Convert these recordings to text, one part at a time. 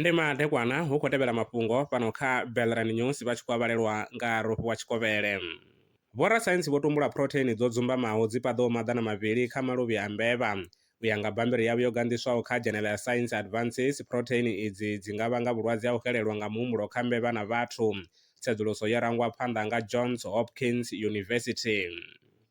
ndi madekwana hu khou tevhela mafhungo fhano kha belran news vha tshi khou avhalelwa nga rofhi wa tshikovhele vhorasaintsi vho tumbula phurotheini dzo dzumbamaho dzi paḓaho maḓana mavhili kha maluvhi a mbevha u ya nga bammbiri yavho yo ganḓiswaho kha dzhenela ya science advances phurotheini idzi dzi nga vhanga vhulwadze ha u xelelwa nga muhumbulo kha mbevha na vhathu tsedzuluso yo rangwa phanḓa nga johns hopkins university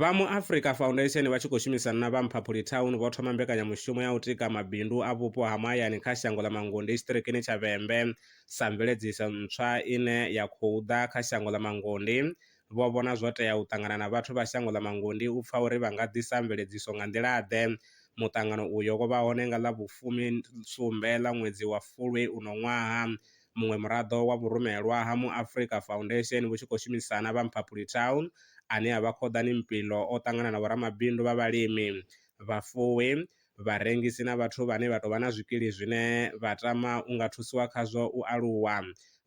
Vha mu Africa Foundation vha tshi khou shumisana na vha Mphaphuli Town vho thoma mbekanyamushumo ya u tika mabindu a vhupo ha mahayani kha shango ḽa Mangunde Itshiṱirikini tsha Vhembe sa mveledziso ntswa ine ya khou ḓa kha shango ḽa Mangunde. Vho vhona zwo tea u ṱangana na vhathu vha shango ḽa Mangunde u pfa uri vha nga ḓisa mveledziso nga nḓila-ḓe. Muṱangano uyo wo vha hone nga ḽa vhufumi sumbe ḽa ṅwedzi wa Fulwi uno ṅwaha. muṅwe muraḓo wa vhurumelwa ha mu Afrika Foundation vhu tshi khou shumisana vha Mphaphuli Town ane a vha Khoḓani Mpilo o ṱangana na vhoramabindu vha vhalimi, vhafuwi, vharengisi na vhathu vhane vha tou vha na zwikili zwine vha tama u nga thusiwa khazwo u aluwa.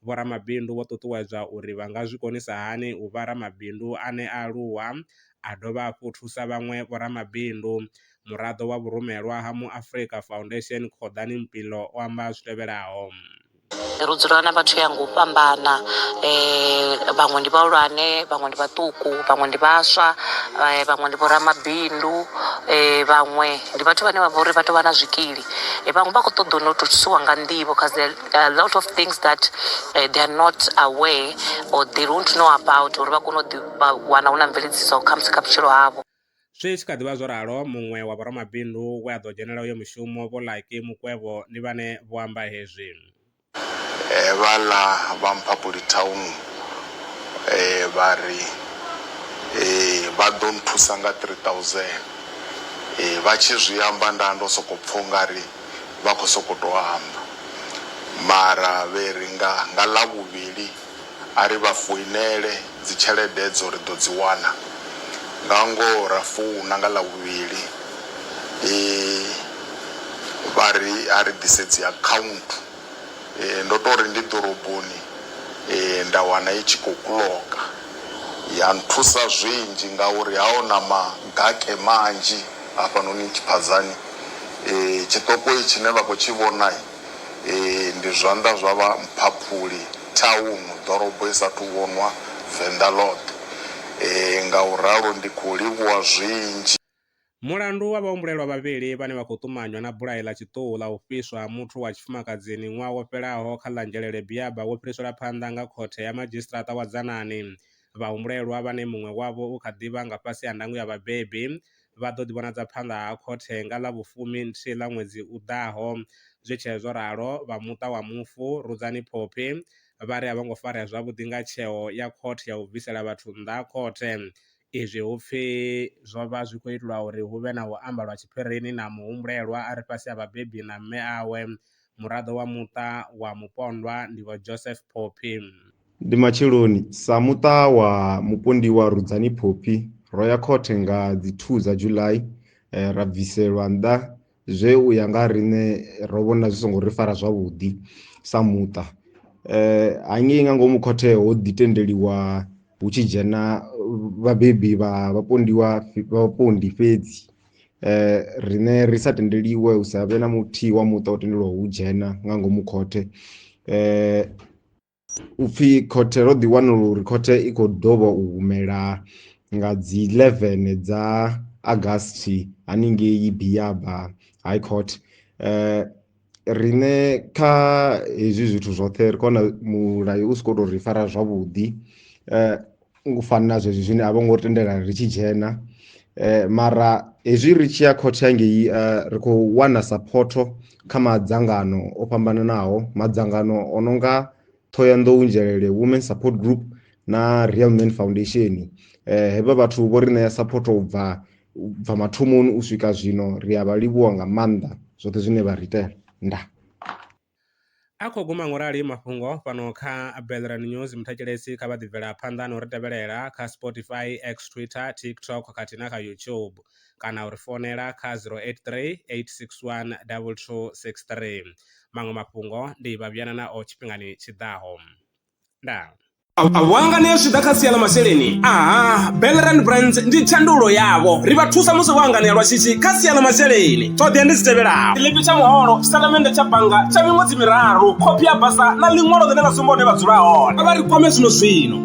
Vhoramabindu vho ṱuṱuwedzwa uri vha nga zwi konisa hani u vha ramabindu ane a aluwa a dovha hafhu thusa vhaṅwe vhoramabindu. Muraḓo wa vhurumelwa ha mu Afrika Foundation Kgoḓani Mpilo o amba zwi tevhelaho. ro dzula na vhathu ya nga u fhambana um vhaṅwe ndi vhahulwane vhaṅwe ndi vhaṱuku vhaṅwe ndi vhaswa um vhaṅwe ndi vhoramabindu um vhaṅwe ndi vhathu vhane vha vha uri vha tou vha na zwikili vhaṅwe vha khou ṱoḓa u no tou thusiwa nga nḓivho cause there are a lot of things that um they are not aware or they don't know about uri vha kone u ḓi wana hu na mveledziso khamusi kha vhutshilo havho Zwi tshi kha ḓi vha zwo ralo, muṅwe wa vhoramabindu we a ḓo dzhenela uyo mushumo, Vho Lucky Mukwevho, ndi vhane vho amba hezwi. Hevhaḽa vha Mphaphuli Town vha ri vha ḓo nthusa nga R3000. Vha tshi zwi amba nda ndo sokou pfa u nga ri vha khou sokou tou amba mara vhe ri nga nga Ḽavhuvhili A ri vha foinele, dzi tshelede edzo ri ḓo dzi wana. Nga ngoho ra founa nga Ḽavhuvhili vha ri a ri ḓise dzi akhaunthu. Ndo tou ri ndi ḓoroboni nda wana i tshi khou kuloka. Ya nthusa zwinzhi ngauri ha ho na magake manzhi hafhanoni Tshiphadzani. Tshiṱokoi tshine vha khou tshi vhona Ee, ndi zwanḓa zwa vha Mphaphuli Town, ḓorobo i sa athu vhonwa Venḓa ḽoṱhe. Ee, nga u ralo ndi khou livhuwa zwinzhi. Mulandu wa vhahumbulelwa vhavhili vhane vha khou ṱumanywa na bulayo ḽa tshiṱuhu ḽa u fhiswa ha muthu wa tshifumakadzini ṅwaha wo fhelaho kha ḽa Nzhelele Biaba wo fhiriselwa phanḓa nga Khothe ya Madzhisiṱaraṱa wa Dzanani. Vhahumbulelwa, vhane muṅwe wavho u kha ḓi vha nga fhasi ha ndango ya vhabebi, vha ḓo ḓivhonadza phanḓa ha khothe nga ḽa vhufumi nthihi ḽa ṅwedzi u ḓaho. Zwi tshee zwo ralo, vha muṱa wa mufu Rudzani Phophi vha ri a vho ngo farea zwavhuḓi nga tsheo ya khothe ya u bvisela vhathu nnḓa ha khothe izwi hu pfi zwo vha zwi khou itwa uri hu vhe na u amba lwa tshiphirini na muhumbulelwa a re fhasi ha vhabebi na mme awe Muraḓo wa muṱa wa mupondwa ndi Vho Joseph Phophi. Ndi matsheloni, sa muṱa wa mupondiwa Rudzani Phophi, ro ya khothe nga dzi 2 dza July ra bviselwa nnḓa zwe u ya nga ha riṋe ro vhona zwi songo ri fara zwavhuḓi sa muṱa. Hangei nga ngomu khothe ho ḓi tendeliwa hu tshi dzhena vhabebi vha vhapondiwa vhapondi fhedzi. riṋe ri sa tendeliwe hu sa vhe na muthihi wa muṱa o tendelwaho u dzhena nga ngomu khothe upfhi khothe ro ḓi wanululo uri khothe i kho ḓovha u humela nga dzi 11 dza August haningei Biyaba High Court. riṋe kha hezwi zwithu zwoṱhe ri kona mulayo u sokou tou ri fara zwavhuḓi u fana na zwezwi zwine a vho ngo tendela ri tshi dzhena mara hezwi ri tshi ya khothe hangei ri khou wana saphotho kha madzangano o fhambananaho madzangano o no nga Thohoyanḓou Nzhelele Women Support Group na Real Men Foundation. Eh, hevha vhathu vho ri ṋea support u bva u bva mathomoni u swika zwino ri a vha livhuwa nga maanḓa zwoṱhe zwine vha ri itela nda A khou guma ngo rali mafhungo fhano kha Belran News. Muthetshelesi kha vha ḓi bvela phanḓa na u ri tevhelela kha Spotify, X, Twitter, TikTok khathihi na kha YouTube. kana u ri founela kha 0838612263. Maṅwe mafhungo ndi vha vhuyana nao tshifhingani tshi ḓaho. Ndaa. Vhuanganea zwi ḓa kha sia ḽa masheleni aha Belrand Brands ndi tshandulo yavho ri vha thusa musi vho anganea lwa shishi kha sia ḽa masheleni ṱhoḓea ndi dzi tevhelaho tshiḽipi tsha muholo tshitatamennde tsha bannga tsha miṅwedzi miraru khophi ya basa na ḽiṅwalo ḽine ḽa sumba hune vha dzula hone a vha ri kwame zwino zwino